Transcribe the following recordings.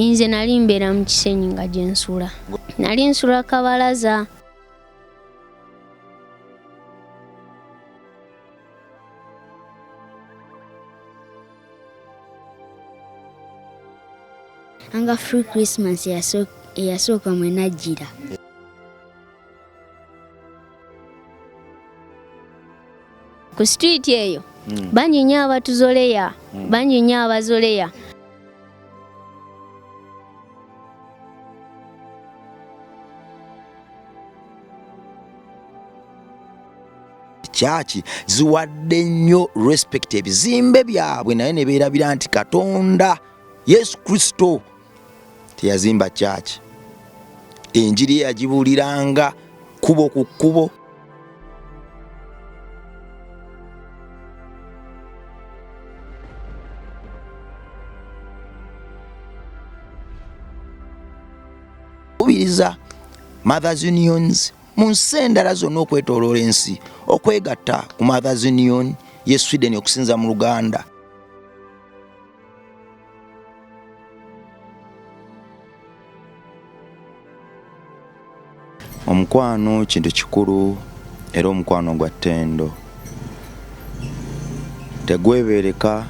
Inze nali mbeera mu kisenyi nga gye nsula. Nali nsula kabalaza. Anga free Christmas eyasooka mwe najjira. ku street eyo mm. bangi nnyo abatuzoleya mm. bangi nnyo abazoleya kyaki ziwadde nnyo respect ebizimbe byabwe naye ne beerabira nti katonda yesu kristo teyazimba kyaki enjiri ye yagibuuliranga kubo ku kkubo kubiriza mothers unions mu nsi endala zonna okwetoloola ensi okwegatta ku mothers union ye sweden okusinza mu luganda omukwano kintu kikulu era omukwano gwa ttendo tegwebeereka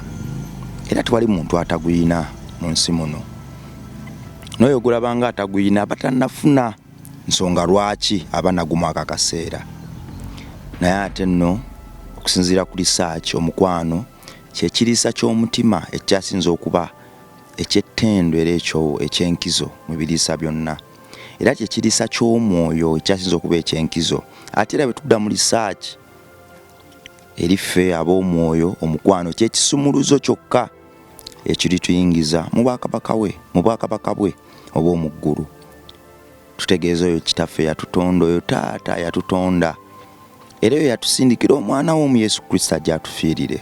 era tewali muntu ataguyina mu nsi muno n'oyo ogulabanga ataguyina aba tannafuna nsonga lwaki aba nagumu ako akaseera naye ate nno okusinziira ku lisaaki omukwano kye kiriisa ky'omutima ekikyasinze okuba eky'ettendo era ekyo eky'enkizo mu biriisa byonna era kye kiriisa ky'omwoyo ekikyasinze okuba eky'enkizo ate era bwe tudda mu lisaaki eri ffe ab'omwoyo omukwano kyekisumuluzo kyokka ekirituyingiza mu bwakabaka we mu bwakabaka bwe obw'omu ggulu tutegeeza oyo kitaffe yatutonda oyo taata yatutonda era eyo yatusindikira omwana w'omu yesu kristo ajja atufiirire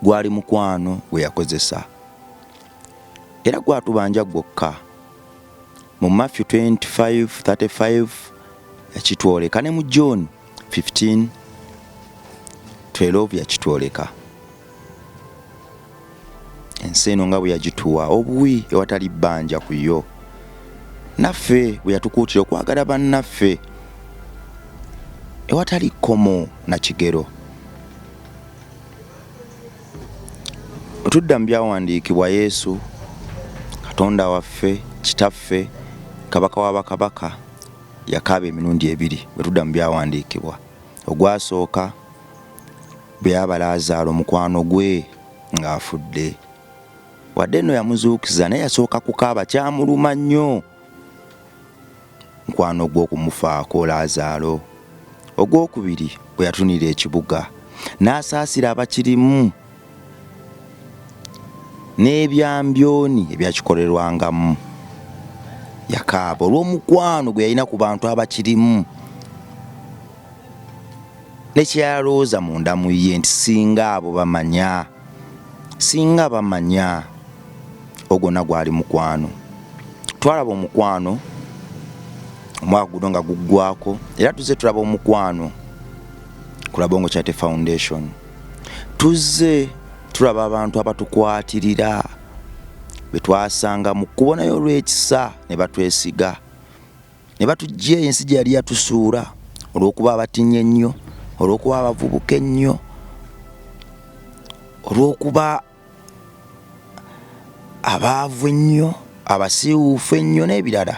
gwali mukwano gwe yakozesa era gwatubanja gwokka mu matthew 2535 yakitwoleka ne mu john 15 12 yakitwoleka ensi eno nga bwe yagituwa obuwi ewatali bbanja ku yo naffe bwe yatukuutira okwagala bannaffe ewatali kkomo na kigero otudda mu byawandiikibwa yesu katonda waffe kitaffe kabaka wa bakabaka yakaaba emirundi ebiri bwe tudda mu byawandiikibwa ogwasooka bwe yaba laazaalo mukwano gwe ng'afudde wadde nno yamuzuukiza naye yasooka kukaaba kyamuluma nnyo mukwano gwe okumufaako laazaalo ogwokubiri bwe yatunira ekibuga n'asaasira abakirimu n'ebyambyoni ebyakikolerwangamu. Yakaaba olw'omukwano gwe yalina ku bantu abakirimu ne kye yalowooza munda mu ye nti singa abo bamanya singa bamanya ogwonna gwali mukwano twalaba omukwano omwaka guno nga guggwako era tuzze tulaba omukwano ku labongo charity foundation. tuzze tulaba abantu abatukwatirira be twasanga mu kkubo naye olw'ekisa ne batwesiga ne batujja eyo ensi gye yali yatusuula olw'okuba abatinye ennyo olw'okuba abavubuka ennyo olw'okuba abaavu ennyo abasiiwuufu ennyo n'ebirala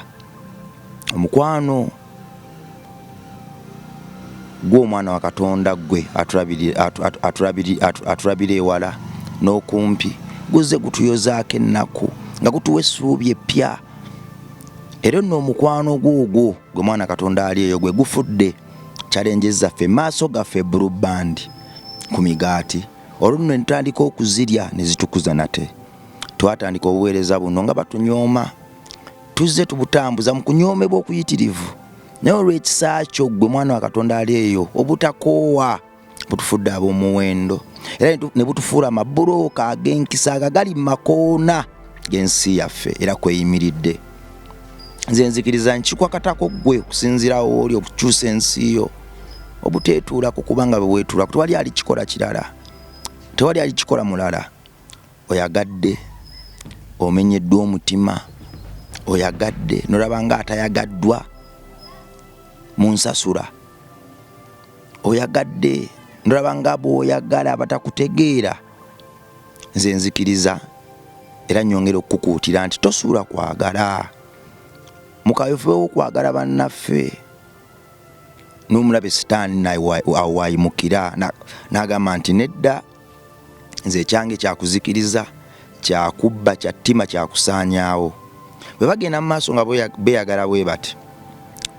omukwano gw'omwana wa katonda ggwe atulabira ewala n'okumpi guzze gutuyozaako ennaku nga gutuwa essuubi eppya era nno omukwano gwogwo gwe mwana katonda ali eyo gwe gufudde kyalenje zaffe maaso gaffe brubandi ku migaati olwo nno netutandika okuzirya nezitukuza nate twatandika obuweereza buno nga batunyooma tuzze tubutambuza mu kunyoomebwa okuyitirivu naye olw'ekisa kyo ggwe mwana wa katonda ali eyo obutakoowa butufudde ab'omuwendo era ne butufuula amabulooka ag'enkisa agagali mu makoona g'ensi yaffe era kweyimiridde nze nzikiriza nkikwakatako gwe okusinziirawo wooli okukyusa ensi yo obuteetuula ku kubanga bweweetuula tewali alikikola kirala tewali alikikola mulala oyagadde omenyeddwa omutima oyagadde nolaba nga atayagaddwa mu nsasula oyagadde nolaba nga bwoyagala abatakutegeera nze nzikiriza era nyongera okukukuutira nti tosuula kwagala mukawefube wokwagala bannaffe nomulabe sitaani awayimukira nagamba nti nedda nze ekyange kyakuzikiriza kyakubba kyattima kyakusaanyaawo bwe bagenda mu maaso nga beyagala bwe bati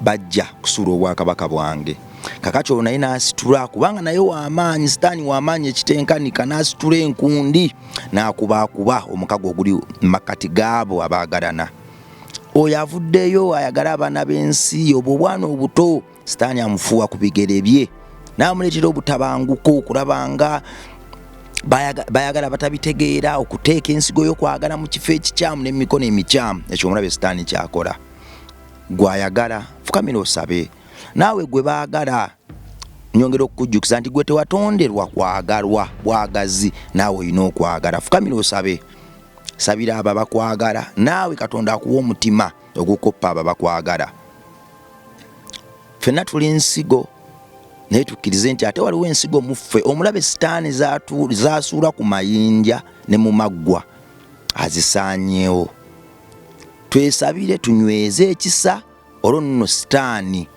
bajja kusuula obwakabaka bwange kakati olwo naye n'asitula kubanga naye wamaanyi sitaani wamaanyi ekitenkanika n'asitula enkundi n'akubaakuba omukago oguli makkati gaabo abaagalana oyo avuddeyo ayagala abaana b'ensi obwo obwana obuto sitaani amufuuwa ku bigere bye n'amuleetera obutabanguko okulaba nga bayagala batabitegeera okuteeka ensigo y'okwagala mu kifo ekikyamu n'emikono emikyamu ekyo omulabe sitaani kyakola gwayagala fukamira osabe naawe gwe baagala nyongera okukujjukiza nti gwe tewatonderwa kwagalwa bwagazi naawe olina okwagala fukamira osabe sabira abo abakwagala naawe katonda akuwa omutima ogukoppa abo abakwagala fenna tuli nsigo naye tukkirize nti ate waliwo ensigo muffe omulabe sitaani zasuula ku mayinja ne mu maggwa azisaanyewo twesabire tunyweze ekisa olwo nno sitaani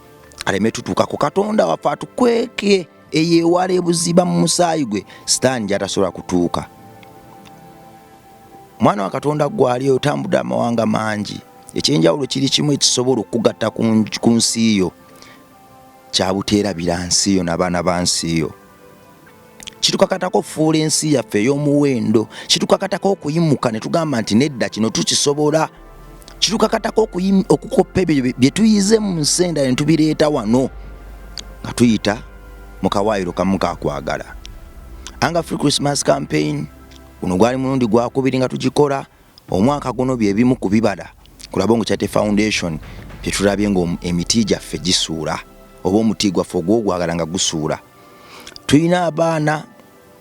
aleme tutuuka ku katonda waffe atukweke eyo ewala ebuziba mu musaayi gwe sitaani gyatasobola kutuuka mwana wa katonda gwali oyo otambudde amawanga mangi ekyenjawulo kiri kimu ekisobola okugatta ku nsi yo kyabuteerabira nsi yo nabaana ba nsi yo kitukakatako okufuula ensi yaffe ey'omuwendo kitukakatako okuyimuka ne tugamba nti nedda kino tukisobola kitukakatako okukoppa ebyo bye tuyize mu nsi endala ne tubireeta wano nga tuyita mu kawaayiro kamu kakwagala anga free christmas campaign guno gwali mulundi gwakubiri nga tugikola Omwaka guno bye bimu ku bibala ku Labongo Charity Foundation bye tulabye ng'emiti gyaffe gisuula oba omuti gwaffe ogw'ogwagala nga gusuula. Tulina abaana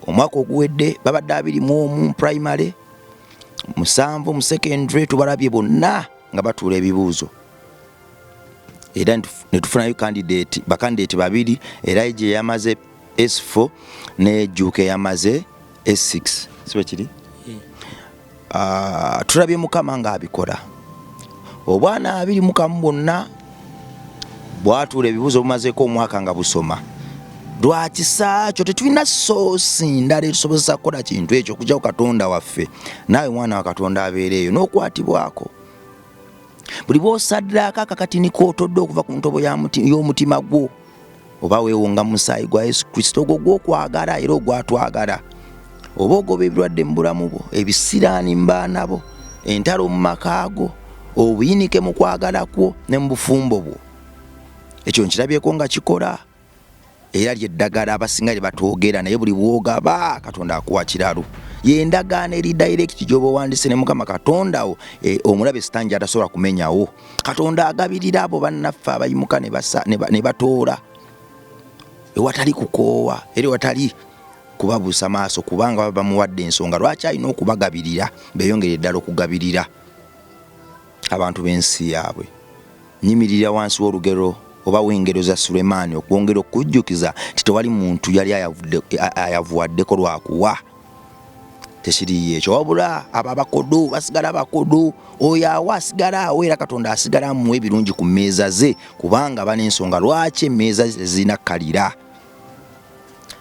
omwaka oguwedde babadde abiri mu omu mu primary, musanvu mu secondary tubalabye bonna nga batuula ebibuuzo era ne tufunayo candidate bakandidate babiri era gye yamaze S4 ne Juke yamaze S6 sibe kiri yeah. uh, tulabye mukama nga abikola obwana abiri mukamu bwonna bwatuula ebibuuzo bumazeeko omwaka nga busoma lwakisa kyo tetulina soosi ndala etusobozesa kukola kintu ekyo okujjako katonda waffe naawe mwana wa katonda abeera eyo n'okwatibwako buli bwosaddaako akakatini kootodde okuva ku ntobo y'omutima gwo oba weewonga musaayi gwa yesu kristo ogwo gwokwagala era ogwatwagala oba ogoba ebirwadde mu bulamu bwo ebisiraani mu baana bo entalo mu maka go obuyinike mu kwagala kwo ne mu bufumbo bwo ekyo nkirabyeko nga kikola era lyeddagala abasinga lye batwogera naye buli bwogaba katonda akuwa kiralu yendagaano eri direct gyoba owandise ne mukama katondawo eh, omulabe sitaani gyatasobola kumenyawo katonda agabirira abo bannaffe abayimuka ne batoola ewatali kukoowa era ewatali kubabuusa maaso kubanga baba bamuwadde ensonga lwaki alina okubagabirira beyongere ddala okugabirira abantu b'ensi yaabwe nyimirira wansi w'olugero oba w'engero za sulemaani okwongera okujjukiza nti tewali muntu yali ayavuwaddeko lwakuwa tekiriiyo ekyo wabula abo abakodo basigala bakodo oyo awo asigala awo era katonda asigala amuwa ebirungi ku mmeeza ze kubanga bana ensonga lwaki emmeeza zirina kalira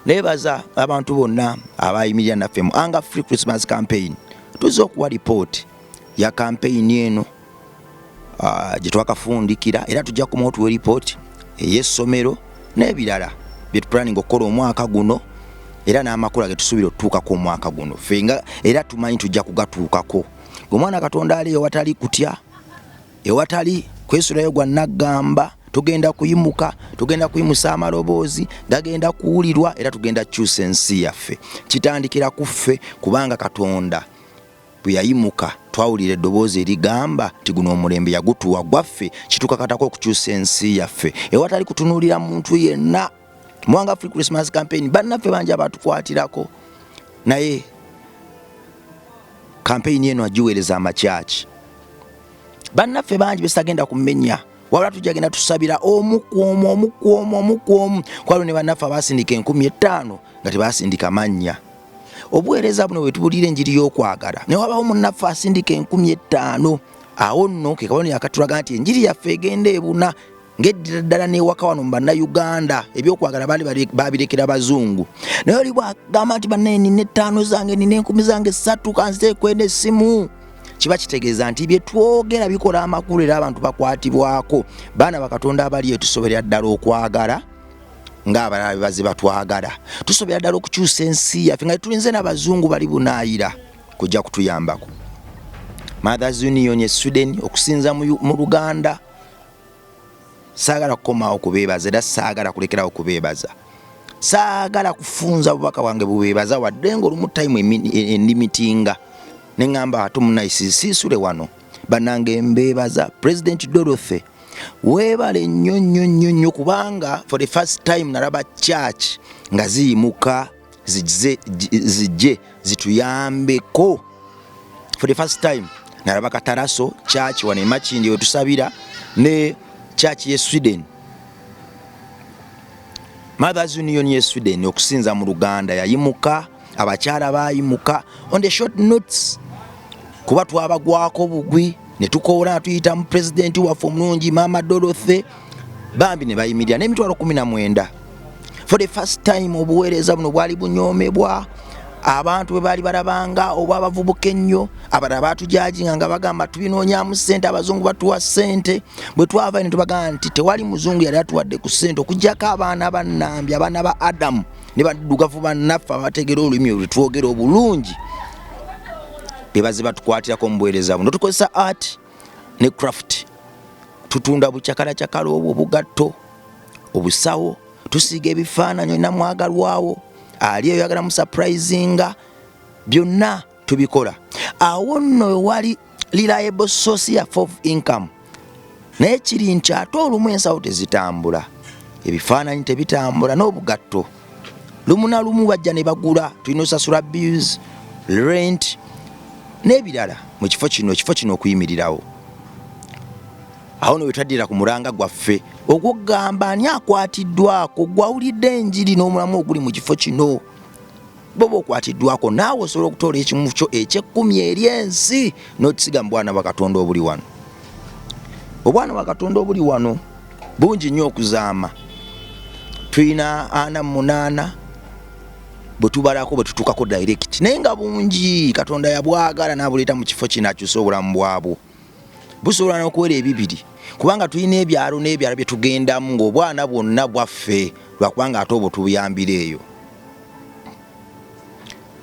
nebaza abantu bonna abayimirira naffe mu anga free christmas campaign tuzze okuwa lipooti ya kampeyini eno ah, gye twakafundikira era tujja kumawo tuwe lipooti ey'essomero n'ebirala bye tupulaninga okukola omwaka guno era n'amakula ge tusuubira okutuukako omwaka guno ffe nga era tumanyi tujja kugatuukako omwana katonda ali ewatali kutya ewatali kwesulayo gwa naggamba tugenda kuyimuka tugenda kuyimusa amaloboozi gagenda kuwulirwa era tugenda kukyusa ensi yaffe kitandikira ku ffe kubanga katonda Bwe yayimuka, twawulira eddoboozi erigamba nti guno omulembe yagutuwa gwaffe, kitukakatako okukyusa ensi yaffe ewatali kutunuulira muntu yenna. Mwanga Free Christmas Campaign, bannaffe bangi abatukwatirako naye kampeyini eno agiweereza amakyaki bannaffe bangi besitagenda kumenya wabula tujagenda tusabira omukwomu omukwomu omukwomu kwalo ne bannaffe abasindika enkumi ettaano nga tebasindika mannya obuweereza buno bwe tubuulira enjiri y'okwagala ne wabawo munnaffe asindika enkumi ettaano awo nno ke kabonero akatulaga nti enjiri yaffe egenda ebuna ng'eddira ddala n'ewaka wano mu bannayuganda ebyokwagala baali babirekera bazungu naye oli bwagamba nti bannaye nina ettaano zange nina enkumi zange ssatu kanzeekwena essimu kiba kitegeeza nti bye twogera bikola amakulu era abantu bakwatibwako baana bakatonda abali etusoberera ddala okwagala ng'abalala bye bazze batwagala tusobera ddala okukyusa ensi yaffe nga tulinze n'abazungu bali bunaayira kujja kutuyambako mothers union e sweden okusinza mu luganda saagala kukomawo kubeebaza era saagala kulekerawo kubeebaza saagala kufunza bubaka wange bubeebaza wadde ngaolumu tayimu endimitinga neŋamba ate omunayi sisule wano banange mbeebaza president dorothy Webale nnyo nnyo nnyo nnyo kubanga for the first time nalaba church nga ziyimuka zijje zituyambeko for the first time nalaba kataraso church wano emakindi wetusabira ne church ye Sweden Mothers Union ye Sweden okusinza mu Luganda yayimuka abakyala bayimuka on the short notes kuba twabagwako bugwi ne tukoola tuyita mu pulezidenti waffe omulungi maama dorothy bambi ne bayimirira n'emitwalo kumi na mwenda for the first time obuweereza buno bwali bunyoomebwa abantu bwebaali balabanga oba abavubuka ennyo abalala batujajinga nga bagamba tubinoonyamu sente abazungu batuwa sente bwe twava ne tubagamba nti tewali muzungu yali atuwadde ku sente okugyako abaana bannambi abaana ba adamu ne baddugavu bannaffe abategera olulimi olwe twogera obulungi bebaze batukwatirako omubuweereza buno tukozesa art ne craft tutunda bucakalakyakala obwo obugatto obusawo tusiiga ebifaananyi olina mwagalwawo ali eyo yagala musaprayizinga byonna tubikola awo nno wewali reliable source ya of income naye kiri nti ate olumu ensawo tezitambula ebifaananyi tebitambula n'obugatto lumu na lumu bajja ne bagula tulina osasula bills rent n'ebirala mu kifo kino ekifo kino okuyimirirawo awo newetaddira ku mulanga gwaffe ogwokugamba ani akwatiddwako gwawulidde enjiri n'omulamu oguli mu kifo kino boba okwatiddwako naawe osobola okutoola ekimu kyo ekyekkumi eri ensi n'okisiga mu bwana bwakatonda obuli wano obwana bwakatonda obuli wano bungi nnyo okuzaama tulina ana munaana bwetubalako bwetutukako direct naye nga bungi katonda yabwagala nabuleeta mu kifo kino akyuse obulamu bwabwo busobola n'okuwera ebibiri kubanga tulina ebyalo n'ebyalo bye tugendamu ng'obwana bwonna bwaffe lwakubanga ate obwo tubuyambira eyo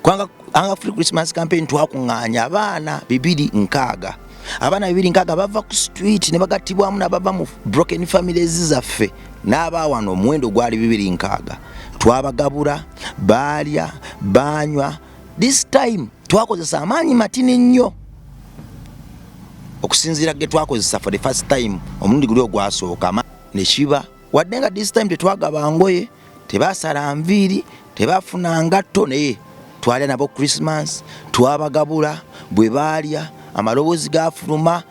kubanga anga free christmas campaign twakuŋŋaanya abaana bibiri nkaaga abaana bibiri nkaaga bava ku street ne bagattibwamu nabava mu broken families zaffe n'abaawano omuwendo gwali bibiri nkaaga twabagabura baalya baanywa This time twakozesa amaanyi matini nnyo okusinziira ge twakozesa for the first time omulundi guli ogwasooka ne kiba wadde nga this time tetwagaba ngoye tebasala nviiri tebafuna ngatto naye twalya nabo christmas twabagabula bwe baalya amaloboozi gafuluma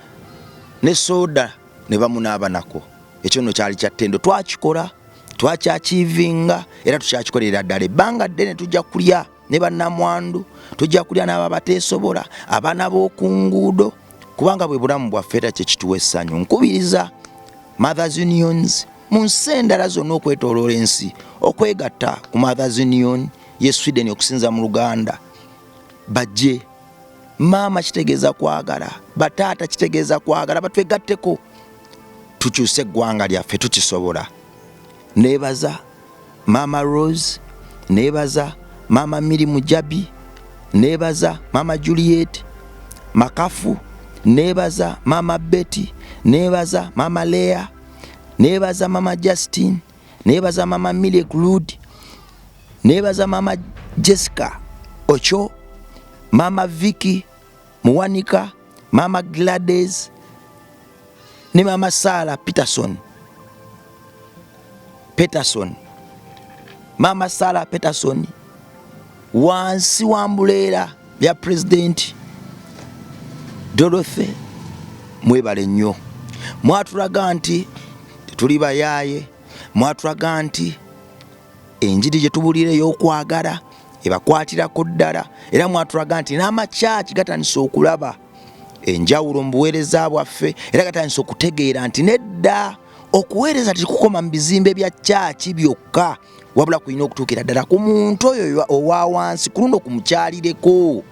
ne soda ne bamunaabanako ekyo nno kyali kyattendo twakikola twakyakiivinga era tukyakikolera ddala ebbanga ddene tujja kulya ne bannamwandu tujja kulya n'abo abateesobola abaana b'oku nguudo kubanga bwe bulamu bwaffe era kyekituwa essanyu nkubiriza mothers unions mu nsi endala zonna okwetoloola ensi okwegatta ku mothers union ye sweden okusinza mu luganda bajje maama kitegeeza kwagala bataata kitegeeza kwagala batwegatteko tukyuse eggwanga lyaffe tukisobola nebaza maama rose nebaza maama miri mujabi nebaza maama juliet makafu nebaza maama betty nebaza maama lea nebaza maama justin nebaza maama milie glud nebaza maama jessica ocho maama viki muwanika maama glades ne maama saala peterson peterson maama saala peterson wansi wa mbuleera ya pulezidenti dorothy mwebale nnyo mwatulaga nti tetuli bayaaye mwatulaga nti enjiri gye tubuulira ey'okwagala ebakwatirako ddala era mwatulaga nti n'amakyaki gatandise okulaba enjawulo mu buweereza bwaffe era gatandise okutegeera nti nedda okuweereza tekukoma mu bizimbe bya kyaki byokka wabula kulina okutuukira ddala ku muntu oyo owa wansi ku luno kumukyalireko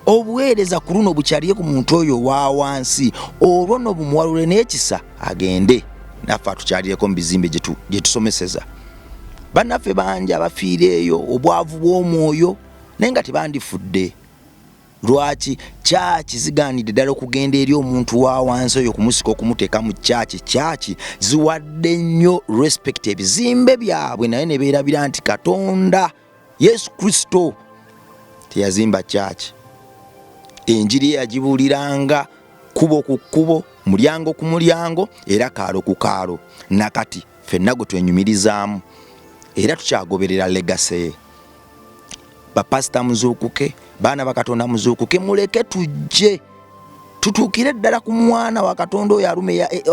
obuweereza ku luno bukyaliye ku muntu oyo owa wansi olwo no bumuwalule n'ekisa agende naffe atukyalireko mu bizimbe gye tusomeseza bannaffe bangi abafiira eyo obwavu bw'omwoyo naye nga tebandifudde lwaki kyaki zigaanidde ddala okugenda eri omuntu wa wansi oyo kumusika okumuteeka mu kyaki kyaki ziwadde nnyo respect ebizimbe byabwe naye ne beerabira nti katonda yesu kristo teyazimba kyaki enjiri yagibuliranga kubo ku kkubo mulyango ku mulyango era kaalo ku kaalo nakati fenna gwe twenyumirizaamu era tukyagoberera legaseye bapasita muzuukuke baana bakatonda muzuukuke muleke tujje tutuukire ddala ku mwana wa katonda oyo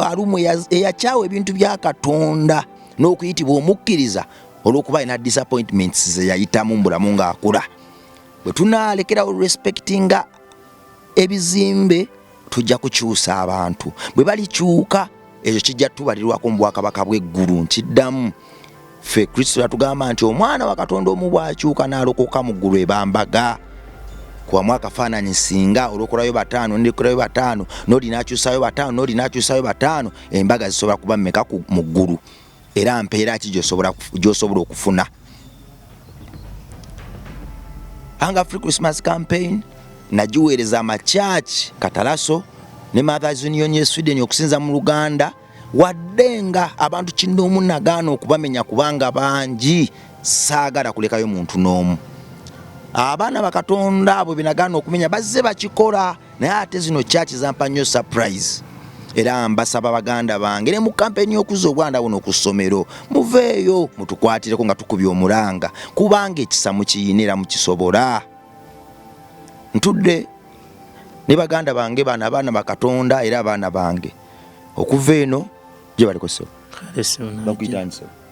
alumwe eyakyawa ebintu bya katonda n'okuyitibwa omukkiriza olw'okuba alina disappointments ze yayitamu mu bulamu ng'akula bwe tunaalekerawo respectinga ebizimbe tujja kukyusa abantu bwe balikyuka ekyo kijja tubalirwako mu bwakabaka bw'eggulu nkiddamu ffe kristo yatugamba nti omwana wa katonda omu bw'akyuka n'alokoka mu ggulu ebambaga kubamu akafaananyi singa olwokolayo bataano nekolayo bataano noli nakyusayo bataano noli nakyusayo bataano embaga zisobola kuba mumeka mu ggulu era mpeera ki gyosobola okufuna anga free christmas campaign nagiweereza amakyaki katalaso ne mothers union ye sweden okusinza mu luganda wadde nga abantu kinoomu nagaana okubamenya kubanga bangi saagala kulekayo muntu n'omu abaana bakatonda abo benagaana okumenya bazze bakikola naye ate zino church zampa nnyo surprise era mbasaba baganda bange ne mu kampeni y'okuzza obwanda buno ku ssomero muveeyo mutukwatireko nga tukubye omulanga kubanga ekisa mukiyina era mukisobola ntudde ne baganda bange bano abaana bakatonda era abaana bange okuva eno gye balikoseo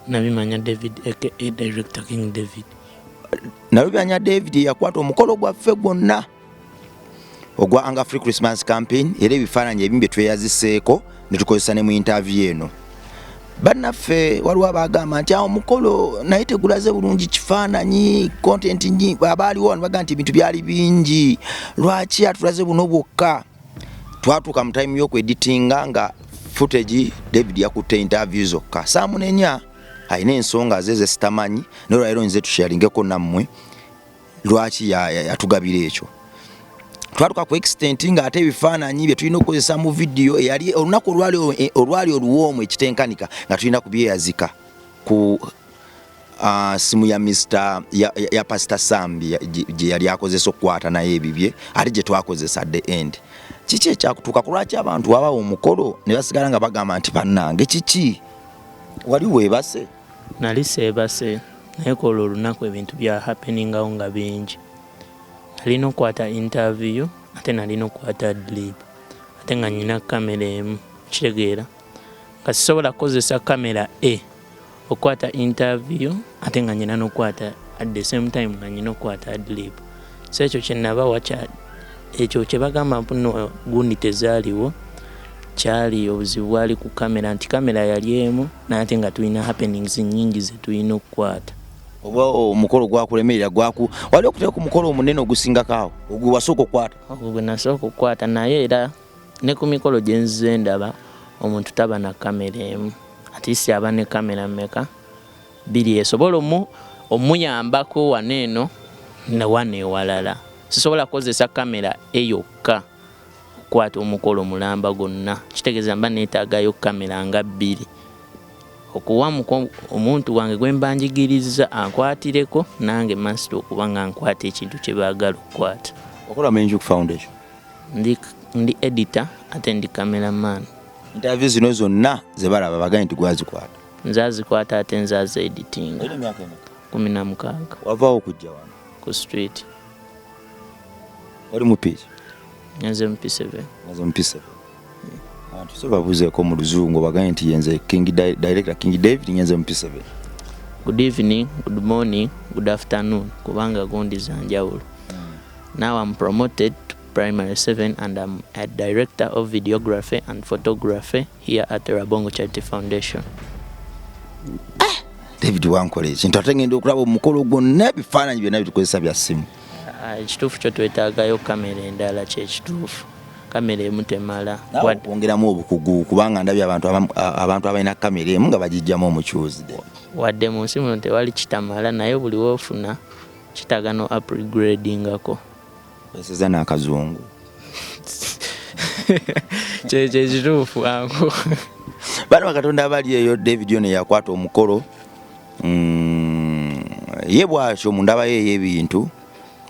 nabimanya david aka director king david nabimanya david yakwata omukolo gwaffe gwonna ogwa Anga Free Christmas Campaign era ebifaananyi ebimu bye tweyaziseeko ne tukozesa ne mu interview eno. Bannaffe waliwo abaagamba nti awo mukolo naye tegulaze bulungi kifaananyi kontenti nyi abaaliwo wano bagamba nti ebintu byali bingi lwaki atulaze buno bwokka twatuuka mu time y'okweditinga nga footage David yakutte interview zokka saamunenya alina ensonga ze zesitamanyi naye olwaleero nze tusharingeko nammwe lwaki yatugabira ekyo twatuka ku extent nga ate ebifaananyi bye tulina okukozesa mu vidiyo eyali olunaku olwali oluwoomu ekitenkanika nga tulina ku byeyazika ku ah, simu ya Mr ya, ya Pastor Sam gye yali akozesa okukwata naye ebibye ate gye twakozesa at the end kiki ekyakutuuka ku lwaki abantu wabawo omukolo ne basigala nga bagamba nti bannange kiki wali weebase Nali seebase naye kwolwo olunaku ebintu bya happeningawo nga bingi. Nalina okukwata interview ate nalina okukwata adlib ate nga nyina camera emu okitegeera nga sisobola kukozesa camera A okukwata interview ate nga nyina nokukwata at the same time nga nyina okukwata adlib. so ekyo kyenabawa ekyo kyebagamba mpuno gundi tezaaliwo kyali obuzibu bwali ku kamera nti kamera yali emu nate nga tulina happenings nyingi zetulina okukwata oba omukolo gwakulemerera gwaku wali okutera ku mukolo omunene ogusingako awo ogwe wasooka okukwata ogwo gwe nasooka okukwata naye era ne ku mikolo gye nzize ndaba omuntu taba na kamera emu atisi aba ne kamera meka Bbiri esobola omu omuyambako wano eno wano ewalala. Sisobola kukozesa kamera eyokka okukwata omukolo mulamba gwonna, kitegeeza mba neetaagayo kamera nga bbiri okuwa omuntu wange gwe mba njigirizza ankwatireko nange masita okuba nga nkwata ekintu kye baagala okukwata. Okola mu Enjuki Foundation? Ndi, ndi edita ate ndi cameraman. Interview zino zonna ze balaba bagambye nti gwazikwata? Nze azikwata ate nze aze editinga. Olina emyaka emeka? Kumi na mukaaga. Wavaawo kujja wano? Ku street. Oli mupiiki? Nze mupiseve. Nze mupiseve. Abantu so babuzeeko mu luzungu bagambye nti yenze King Director King David nyenze mupiseve. Good evening, good morning, good afternoon kubanga gundi za njawulo. Hmm. Now I'm promoted to primary 7 and I'm a director of videography and photography here at the Rabongo Charity Foundation. Ah, David wankola ekintu ate ngenda okulaba omukolo gwonna ebifaananyi byonna bitukozesa bya ssimu ah, ekituufu kyo twetaagayo kamera endala kyekituufu kamera emu temala kwongeramu obukugu kubanga ndabye abantu abantu abalina kamera emu nga bagijjamu omucuuzi wadde mu nsi muno tewali kitamala naye buli woofuna kitaaga no upgradingako oseza n'akazungu kyekituufu angu bano bakatonda abali eyo david ono yakwata omukolo mm, ye bwatyo mundaba ye ey'ebintu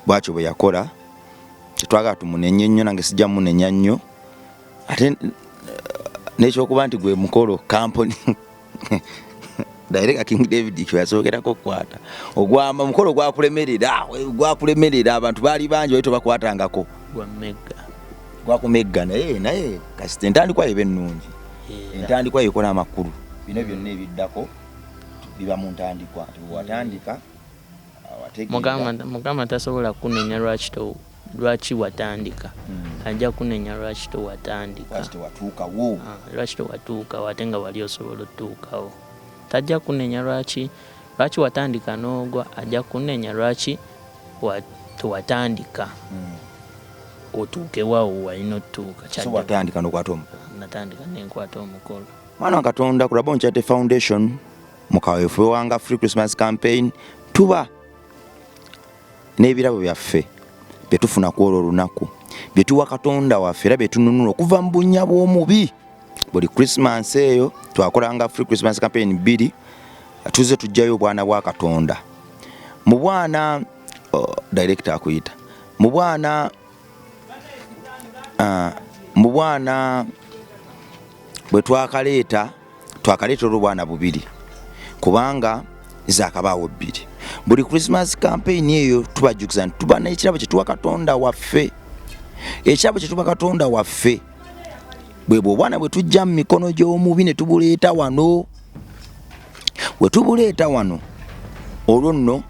bwatyo bwe yakola tetwagala tumunenye nnyo nange sijja munenya nnyo ate eh, n'ekyokuba nti gwe mukolo kampuni daireka king david kyeyasookerako okukwata ogwamba omukolo gwakulemerera gwakulemerera abantu baali bangi bali tobakwatangako gwakumegga naye naye kasita entandikwa yeba ennungi entandikwa yekola amakulu bino byonna ebiddako biba mu ntandikwa watandika mugamba tasobola kunenya lwaki Lwaki watandika ajja kunenya lwaki tewatandika lwaki tewatuukawo ate nga wali osobola otuukawo tajja kunenya lwaki lwaki watandika n'ogwa ajja kunenya lwaki tewatandika otuukewawo walina otutuuka kyatandika nokwata omukolo natandika nenkwata omukolo mwana wa katonda kulaba onkyate foundation mu kaweefube wanga free christmas campaign tuba n'ebirabo byaffe bye tufuna ku olwo olunaku bye tuwa katonda waffe era bye tununula okuva mu bunnya bw'omubi buli krisimansi eyo twakolanga free christmas campaign bbiri tuze tujjayo obwana bwa katonda mu bwana oh, director akuyita mu bwana uh, mu bwana bwe twakaleeta twakaleeta olubwana bubiri kubanga zakabaawo bbiri buli christmas campaign eyo tubajjukiza nti tuba n'ekirabo kye tuwa katonda waffe ekirabo kye tuba katonda waffe bwe bwobwana bwe tujja mu mikono gy'omubi ne tubuleeta wano we tubuleeta wano olwo nno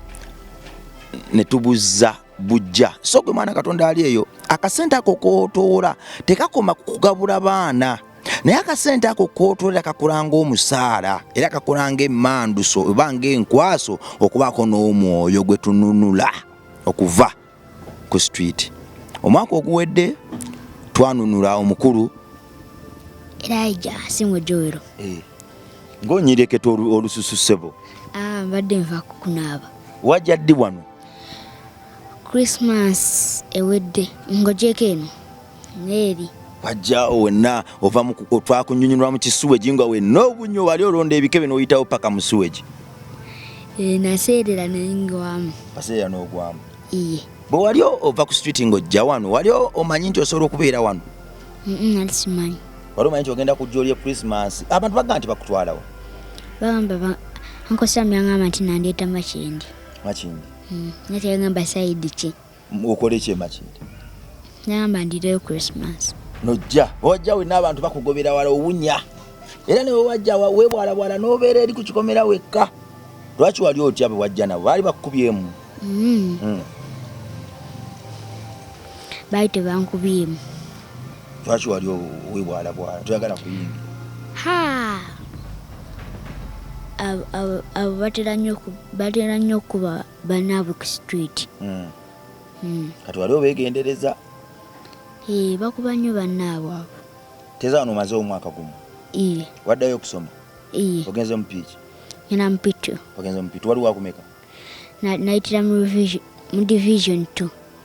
ne tubuzza bujja so gwe mwana katonda ali eyo akasente ako kotoola tekakoma kukugabula baana naye akasente ako kotolera kakulanga omusaala era kakulanga emanduso oba ngaenkwaso okubaako n'omwoyo gwe tununula okuva ku street omwaka oguwedde twanunula omukulu eraija singo joero eh, ngaonyireketa olususu sebo ah, mbadde nva kukunaaba wajja ddi wano christmas ewedde ngojeko eno neeri wajjawo wenna ova twakunyunyulwa mu kisuwegi nga wenna obunyo wali olonda ebikebe n'oyitawo paka mu suwegi eh, naseerera nengwamu aseerera n'ogwamu iye bwe wali ova ku street nga ojja wano wali omanyi nti osobola okubeera wano nali simanyi wali omanyi nti ogenda kujja olye christmas abantu bagamba nti bakutwalawo bagamba nkosamyangamba nti nandeeta makyendi makindi hmm, nateyagamba saidi ki okole ki emakindi nagamba ndireyo christmas nojja wajja wena abantu bakugobera wala owunya era newe wajja webwalabwala nobeera eri ku kikomera wekka lwaki wali otya bwe wajja nabo baali bakukubyemu hmm. hmm. baali tebankubyemu lwaki wali webwalabwala toyagala kuyingira abo batera nnyo okuba banaabwe ku street hmm. Hmm. kati wali obegendereza eh, bakuba nnyo banaabwe abo teza wano omaze omwaka gumu eh. waddayo okusoma eh. ogenze mupiiki ena mupitu ogenze mupitu wali wakumeka nayitira mu division two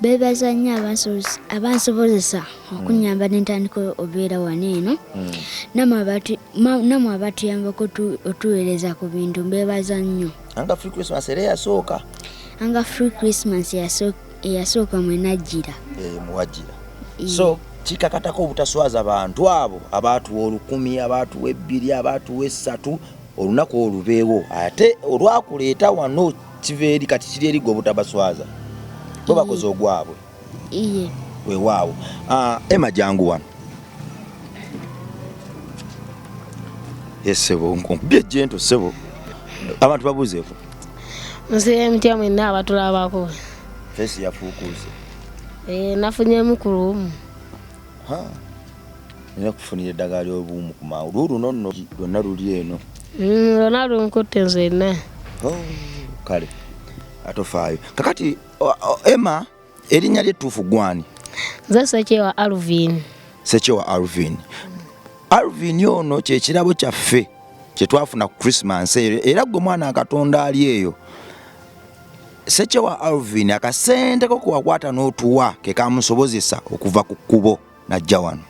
beebaza nnyo abansobozesa okunyamba ne ntandika obeera wano eno hmm. namwe abatuyambako otuweereza ku bintu mbeebaza nnyo anga free christmas era eyasooka anga free christmas eyasooka mwenajjira eh, muwajjira so kikakatako obutaswaza bantu abo abaatuwa olukumi abaatuwa ebbiri abaatuwa essatu olunaku olubeewo ate olwakuleeta wano kiva eri kati kiri eri gwe obutabaswaza bo bakoze ogwabwe iye wewaawo ah, ema jangu wano esebo nkubye jento sebo abantu babuzeeko nsibe mutya mwenna abatulabako fesi yafuukuuse eh, nafunye mukulu omu nina kufunira eddagala ly'obuwumu ku mangu lwo luno nno lwonna luli eno mm, lwonna lunkutte nzenna oh, kale atofaayo kakati emma erinnya lyettuufu gwani nze sekyewa alvin sekyewa alvin alvin ono kyekirabo kyaffe kyetwafuna ku christmas eyo era gwe mwana katonda ali eyo Sekyewa Alvin akasente ko kuwakwata n'otuwa ke kamusobozesa okuva ku kkubo najja wano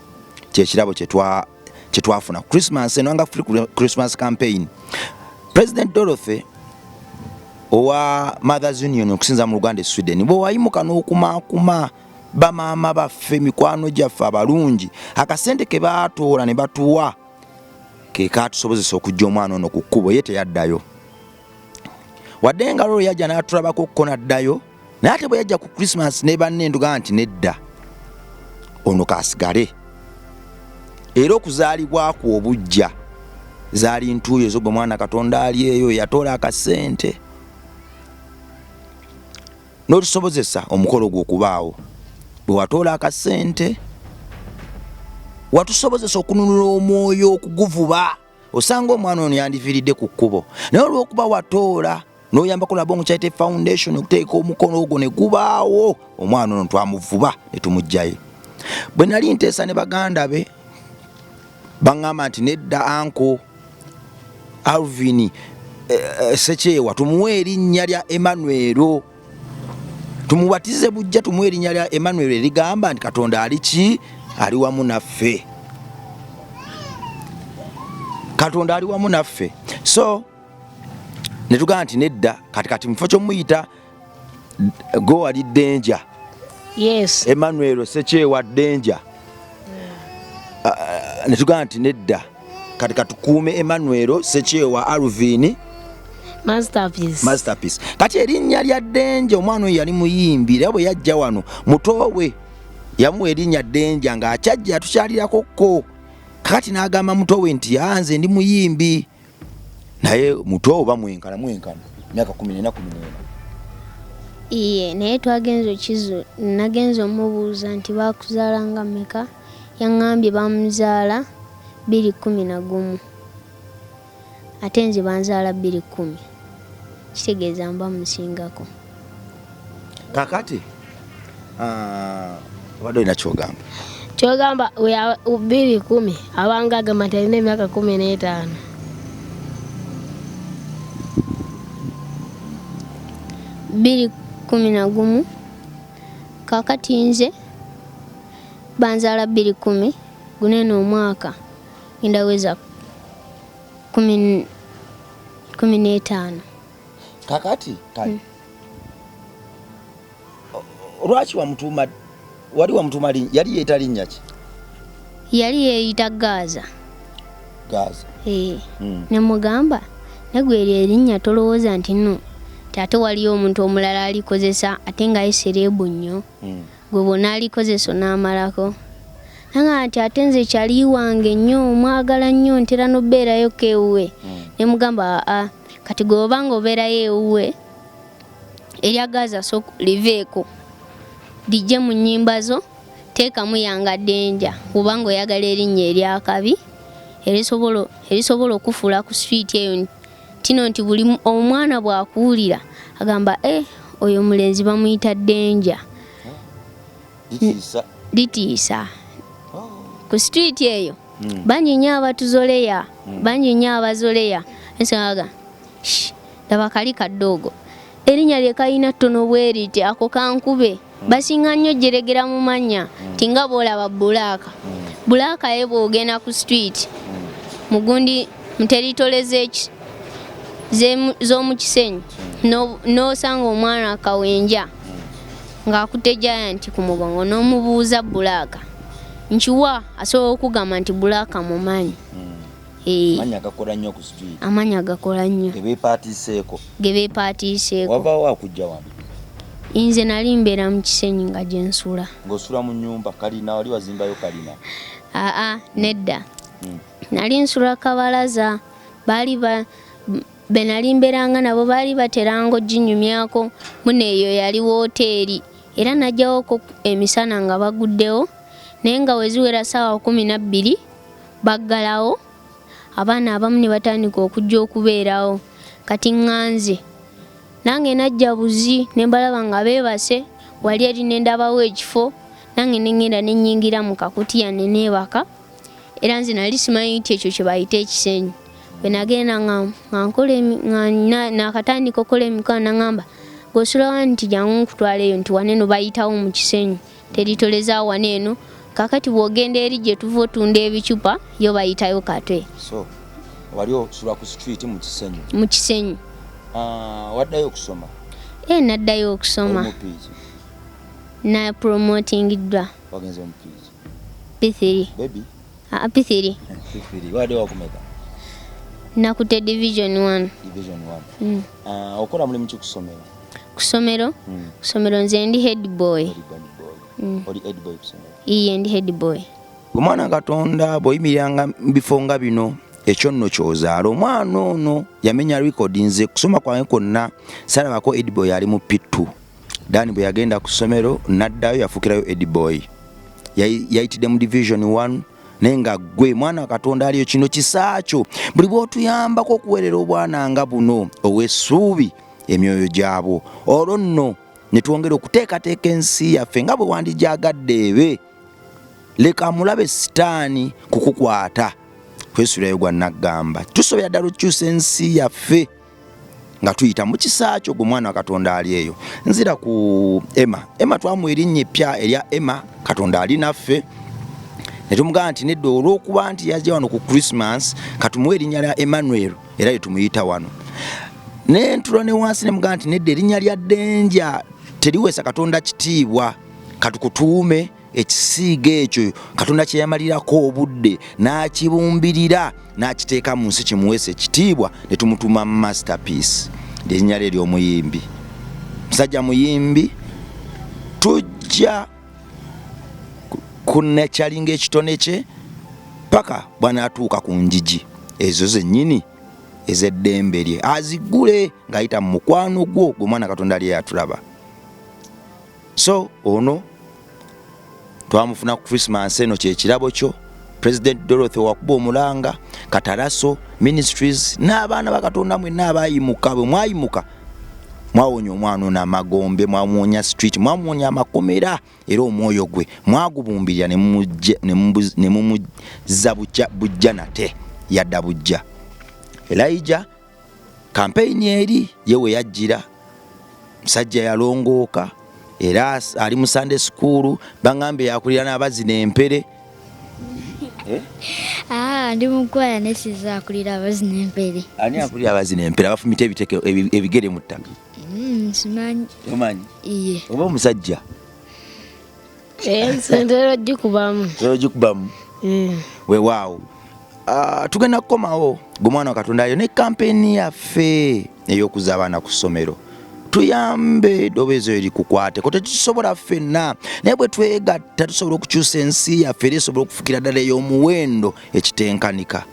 kyekirabo kyetwafuna ku Christmas eno nga free Christmas campaign President Dorothy owa Mothers Union okusinza mu Uganda e Sweden bwe wayimuka n'okumaakuma bamaama baffe mikwano gyaffe abalungi akasente ke baatoola ne batuwa ke kaatusobozesa okujja omwana ono ku kkubo ye teyaddayo wadde nga lolo yajja n'atulabako kko n'addayo naye ate bwe yajja ku krisimansi ne banne nduga nti nedda ono kaasigale era okuzaalibwa kwo obujja zaali ntuuyo ezo gwe mwana katonda ali eyo yatoola akasente n'otusobozesa omukolo gwo okubaawo bwe watoola akasente watusobozesa okununula omwoyo okuguvuba osanga omwana ono yandiviiridde ku kkubo naye olw'okuba watoola noyambako laba omukyalite foundation okuteeka omukono ogwo ne gubaawo omwana ono twamuvuba ne tumugjayo bwe nali nteesa ne baganda be baŋŋamba nti nedda anko alvin eh, eh, sekyewa tumuwe erinnya lya emanuelo tumubatize bujja tumuwe erinnya lya emmanuel erigamba nti katonda ali ki ali wamu naffe katonda ali wamu naffe so netugamba nti nedda kati kati mukifo kyomuyita gowali denja yes. emmanuel sekyewa denja mm. uh, netugamba nti nedda kati katukuume Emmanuel Sekyewa Alvin Masterpiece. Masterpiece. Kati erinnya lya Denje omwana oyo yali muyimbi era bwe yajja wano mutoowe yamuwa erinnya Denja ng'akyajja atukyalirako ko kati n'agamba mutoowe nti yanze ah, ndi muyimbi naye mutoowe oba mwenkana mwenkana myaka kumi nena kumi nena iye naye twagenze okizu nagenze omubuuza nti bakuzaala nga meka Yang'ambye baamuzaala bbiri kkumi na gumu ate nze banzaala bbiri kkumi kitegeeza mba musingako kakati ah, obadde olina kyogamba kyogamba bbiri kumi abanga agamba nti alina emyaka kumi n'etaano bbiri kumi na gumu kakati nze banzaala bbiri kumi guno eno omwaka ngenda weza kumi kumi n'etaano kakati kale hmm. lwaki wamutuuma wali wamutuuma linnya yali yeeta linnya ki yali yeeyita gaaza gaaza ee hmm. ne mugamba negwe eryo erinnya tolowooza nti no ate waliyo omuntu omulala alikozesa ate nga ye sereebu nnyo hmm. gwe bw'onaalikozesa onaamalako nanga nti ate nze kyali wange nnyo mwagala nnyo ntera n'obeerayoko ewuwe hmm. ne mugamba aa kati gwe oba nga obeerayo ewuwe erya gaaza so liveeko lijje mu nnyimba zo teekamu yanga denja oba nga oyagala erinnya eryakabi erisobola okufuula ku switi eyo kino nti buli omwana bwakuwulira agamba eh, oyo omulenzi bamuyita denja litiisa oh. ku situiti eyo hmm. bangi nyo abatuzoleya hmm. bangi nyo abazoleya ensaga laba kali kadoogo erinnya lye kalina ttono bweriti ako kankube basinga nnyo jjeregera mu mannya mm. nti nga bwolaba bulaaka mm. bulaaka ye bwogenda ku street mm. mugundi muteritole z'omu kisenyi n'osanga omwana akawenja ng'akutte giant ku mugongo n'omubuuza bulaaka nkiwa asobola okugamba nti bulaaka mumanyi amanya gakola nnyo ku street amanya gakola nnyo gebeepaatiiseeko gebeepaatiiseeko wabaawo akujja wano nze nali mbeera mu kisenyi nga gyensula ng'osula mu nyumba kalina wali wazimbayo kalina aa nedda hmm. nali nsula kabalaza baali ba benali mbeeranga nabo baali bateranga oginyumyako muno eyo yali wooteeri era najjawoko emisana nga baguddewo naye nga weziwera saawa kumi nabbiri baggalawo abaana abamu ne batandika okujja okubeerawo kati ŋŋanze nange najja buzi ne mbalaba nga beebase wali eri ne ndabawo ekifo nange ne ŋŋenda ne nnyingira mu kakutiya ne neebaka era nze nali simanyi nti ekyo kye bayita ekisenyi bwe nagenda nga nkola nakatandika okukola emikwano naŋamba gosulawa nti jangu nkutwaleyo nti waneno bayitawo mu kisenyi teritoleza wano eno kakati bwogenda eri gyetuva otunda ebicupa yo bayitayo katwe so wali osula ku street mu kisenyi mu kisenyi ah, waddayo okusoma e eh, naddayo okusoma na promotingiddwa wagenze mu p3 baby Ah, P3. P3. Wade wakumeka? Nakute division 1. Division 1. Mm. Uh, ah, okola mulimu ki kusomero? Kusomero? Mm. Kusomero nze ndi head boy. Head boy. Mm. Oli head boy kusomero. Iye ndi head boy. Omwana Katonda bw'oyimiranga mu bifo nga bino ekyo nno ky'ozaala omwana ono yamenya likodi nze kusoma kwange kwonna salabako edibo yali mu pittu Dani bwe yagenda ku ssomero n'addayo yafukirayo Ediboy, yayitidde mu division 1 naye nga gwe mwana katonda aliyo kino kisaakyo buli bwotuyambako okuweerera obwana nga buno ow'essuubi emyoyo gyabwo olwo nno ne twongera okuteekateeka ensi yaffe nga bwe wandijaagadde ebe leka amulabe sitaani kukukwata kwesulayo gwa naggamba tusobera ddala okukyusa ensi yaffe nga tuyita mu kisa kyo gwe mwana wa katonda ali eyo nzira ku ema ema twamu erinnya eppya erya ema katonda ali naffe ne tumugamba nti nedda olw'okuba nti yajja wano ku christmas katumuwa erinnya lya emmanuel era ye tumuyita wano ne ntula ne wansi ne mugamba nti nedda erinnya lya denja teriweesa katonda kitiibwa katukutuume ekisiiga ekyo katonda kyeyamalirako obudde n'akibumbirira n'akiteeka mu nsi kimuweesa ekitiibwa ne tumutuma masterpiece lyerinnya lye ery'omuyimbi musajja muyimbi tujja kunekyalinga ekitone kye paka bwanaatuuka ku njiji ezo zennyini ez'eddembe lye azigule ng'ayita mu mukwano gwo gwe mwana katonda lye yatulaba so ono twamufuna ku christmas eno kyekirabo kyo president dorothy wakuba omulanga kataraso ministries n'abaana bakatonda mwenna abayimuka bwe mwayimuka mwawonya omwana ono amagombe mwamuwonya street mwamuwonya amakomera era omwoyo gwe mwagubumbirira ne mumuzza bujja nate yadda bujja elija kampeyini eri ye we yajjira musajja yalongooka era ali mu sande sukuulu baŋambe yakulira n'abazina empere eh? ah, ndi mukwaya nesiza akulira abazina empere ani akulira abazina empere abafumita ebiteke ebigere mu ttaka mm, simanyi omanyi oba omusajja Eh, ntera ogikubamu. Ntera ogikubamu. Eh. Wewaawo. Ah, tugenda kukomawo gwe mwana wa Katonda ayo ne kampeyini yaffe ey'okuza abaana ku ssomero. tuyambe eddoboozi eyo likukwateko tetusobola ffenna naye bwe twegatta tusobola okukyusa ensi yaffe era esobola okufukira ddala ey'omuwendo ekitenkanika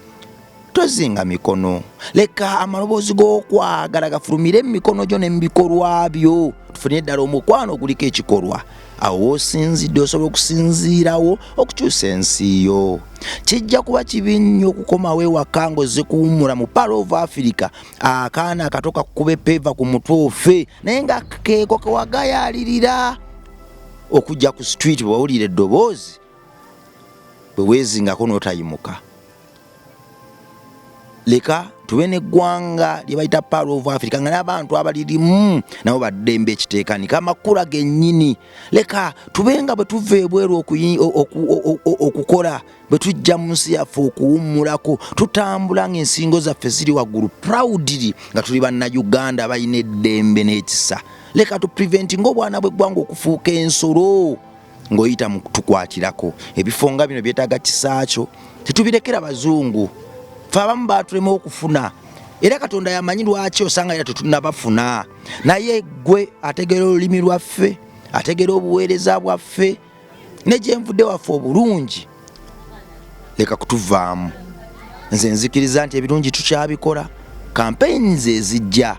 tozinga mikono leka amaloboozi g'okwagala gafulumire mu mikono gyo ne mu bikolwa byo tufunire ddala omukwano oguliko ekikolwa awo woosinzidde osobola okusinziirawo okukyusa ensi yo kijja kuba kibi nnyo okukomawo ewaka ng'ozze kuwummula mu palo of africa akaana akato kakukube peeva ku mutwe ofe naye nga keeko kewagayalirira okujja ku street bwewawulira eddoboozi bwe weezingako n'otayimuka leka tube neggwanga lyebayita paro of africa nga nabantu abalirimu nabo baddembe ekiteekanika amakula genyini leka tube nga bwetuva ebweru okukola bwetujja mu nsi yaffe okuwummulako tutambula ngaensingo zaffe ziri waggulu proudly nga tuli bannauganda balina eddembe n'ekisa leka tu preventi ngaobwana bweggwanga okufuuka ensolo ng'oyita mu tukwatirako ebifo nga bino byetaaga kisaakyo tetubirekera bazungu fe abamu baatulema okufuna era katonda yamanyi lwaki osanga era tetunabafuna naye gwe ategeera olulimi lwaffe ategeera obuweereza bwaffe ne gyenvudde waffe obulungi leka kutuvaamu nze nzikiriza nti ebirungi tukyabikola campaigns ezijja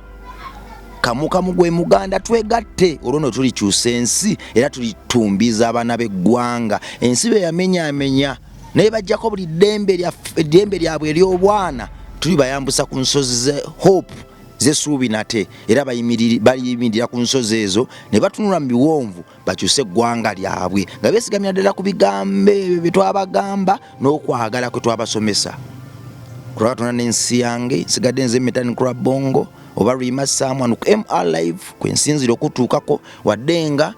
kamukamu gwe muganda twegatte olwo no tulikyusa ensi era tulitumbiza abaana b'eggwanga ensi be yamenyamenya naye bajjako buli ddembe lyabwe ery'obwana tuli bayambusa ku nsozi ze hope zesuubi nate era bayimirira ku nsozi ezo ne batunula mu biwonvu bakyuse eggwanga lyabwe nga besigamira ddala ku bigambo ebyo bye twabagamba n'okwagala kwe twabasomesa kulaba tona n'ensi yange nsigadde nze mitani kula bongo oba luyima someone ku mr live kwe nsinzira okutuukako wadde nga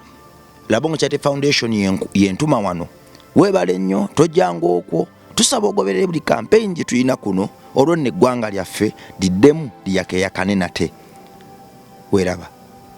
labongo chate foundation yentuma wano weebale nnyo tojjanga okwo tusaba ogoberere buli kampeyini gye tulina kuno olwo nno eggwanga lyaffe liddemu liyakeyakane nate weeraba